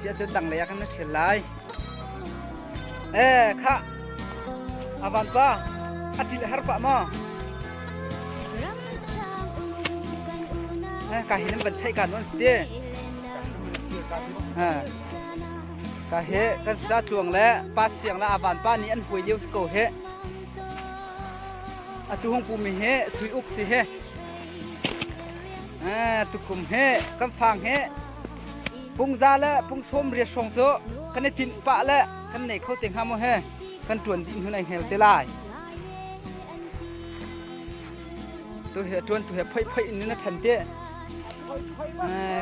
siahcun tanglei ah kan na ṭhial lai. Eh, khah! A vanpa, a ṭil a har pah maw? Eh, ka hi nan van chaih ka nuan si ti. Eh, ka he kan sa tluang le pa siang le avan pa nih an hui lio si ko he. Atu hung pu mi he sui uk si he. Eh, tukum he, kan fang he. Pungza le pungsawm riat hrawng cu kan i tinh pah le kan nei kho te hnga maw he kan ṭuan dih hnu ai hngel te lai. Tu he ṭuan tu he phoih phoih in na ṭhan te.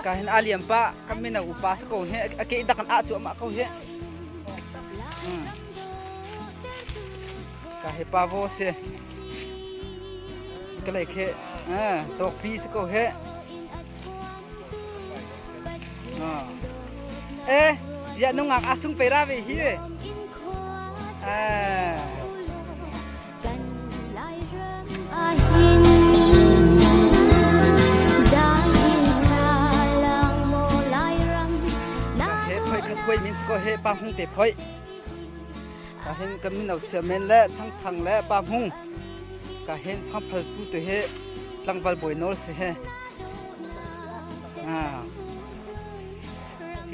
Ka hin a liam pa kan mino upa sa ko he a ke dak an ah cu amah ko he. Ka he pa vo se ka lei khe tawk pi sa ko he. Eh, ya nungak asung pera ve hi. Eh. He phoi khat koi min ko he pa hung te phoi. Ka hen kan min au chia men le thang thang le pa hung. Ka hen phang phal tu te he tlangval boi nol se he.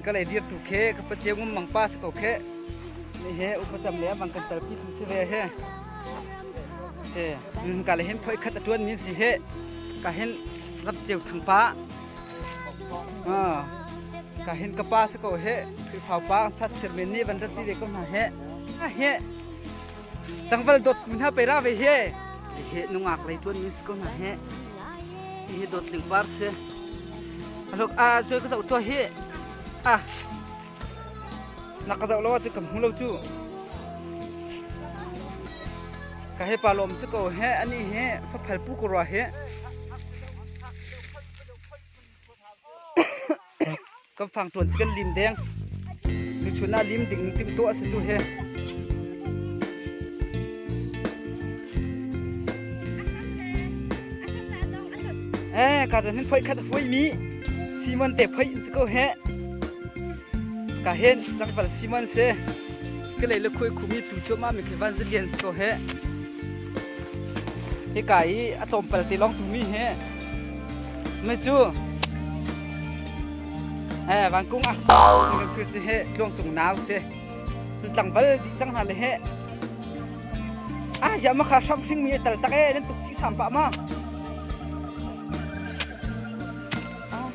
ka lei dir tu khe ka paceu ngum mang pa se ko khe ni he upacam le bang kan tar pi tu se ve he se nun ka le hen phoi khat atuan ni si he ka hen rap ceu thang pa ha ka hen ka pa se ko he phai phau pa sat sir men ni van rati de ko na he a he Tlangval dawttu hna pei ra ve he. He nungak lei tuan min si ko hna he. Hi dawt ling par si. Alok a cui ka zau tua hi. A nak ka zau lo cu kam hu lo cu. Ka he pa lom si ko he ani he fa phal pu ko rwa he. kan fang tuan cu kan lim deng nuchun ah lim ding timtuah a si tu he eh ka zan hin phoi khat hoi mi simon te phoi in ko he ka hen tangpal simon se ke le le khoi khumi tu cho ma mi ke evangelians ko he he ka i a tlawmpal te long tu mi he Me cu eh vangkung ah kan kir ci he tluang cung nau se nan tlangval di cang hna le he ah ya ma kha hram hring mi tal tak e nan tuk si sam pa ma ah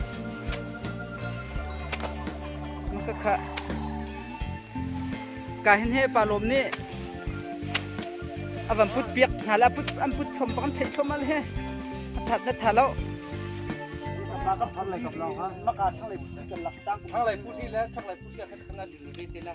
ma ka kha ka hin he pa lom nih a van put piak hna le an put chom bang an theih thluahmah he a that na tha lo thlanglei pusi le chaklei pusi khan khan an lu te le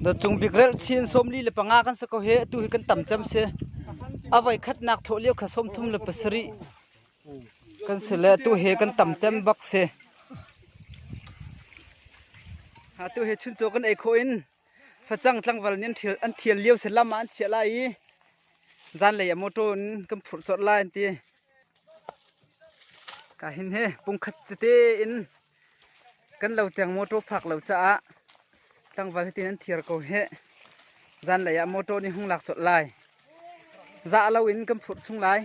Na cung bikrelh chin somli le panga kan sa ko he atu hi kan tam cam si. Avai khatnak thawh lio kha som thum le pasari kan si le atu he kan tam cem bak si. Ha tu he chun cho kan ei kho in Facang tlangval nih an thial lio sen lam ah an chiah lai i zanlei ah motor in kan phurh colh lai an ti. Ka hin he pungkhat tete in kan lo tiang motor phak lo caah tlangval hitin an thiar ko he zanlei ah motor nih hung lak colh lai. Za lo in kan phurh chung lai.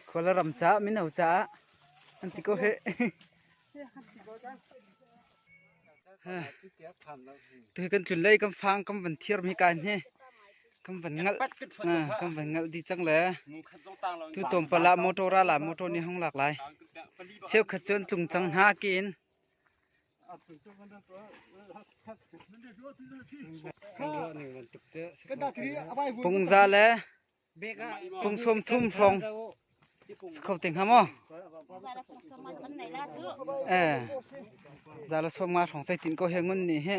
Kuala ram caah mino caah an ti ko he. Tu kan tlun lei kan fang kan van thiar mi kai ne. kan van ngalh kan van ngalh di cang le tu tom pala motor ala motor ni hong lak lai cheu khat chuan tlung cang hna ke in pungza le pung som thum phong Kho te ngam maw? Eh. Zala suak ma thong sai tin ko he ngun ni he.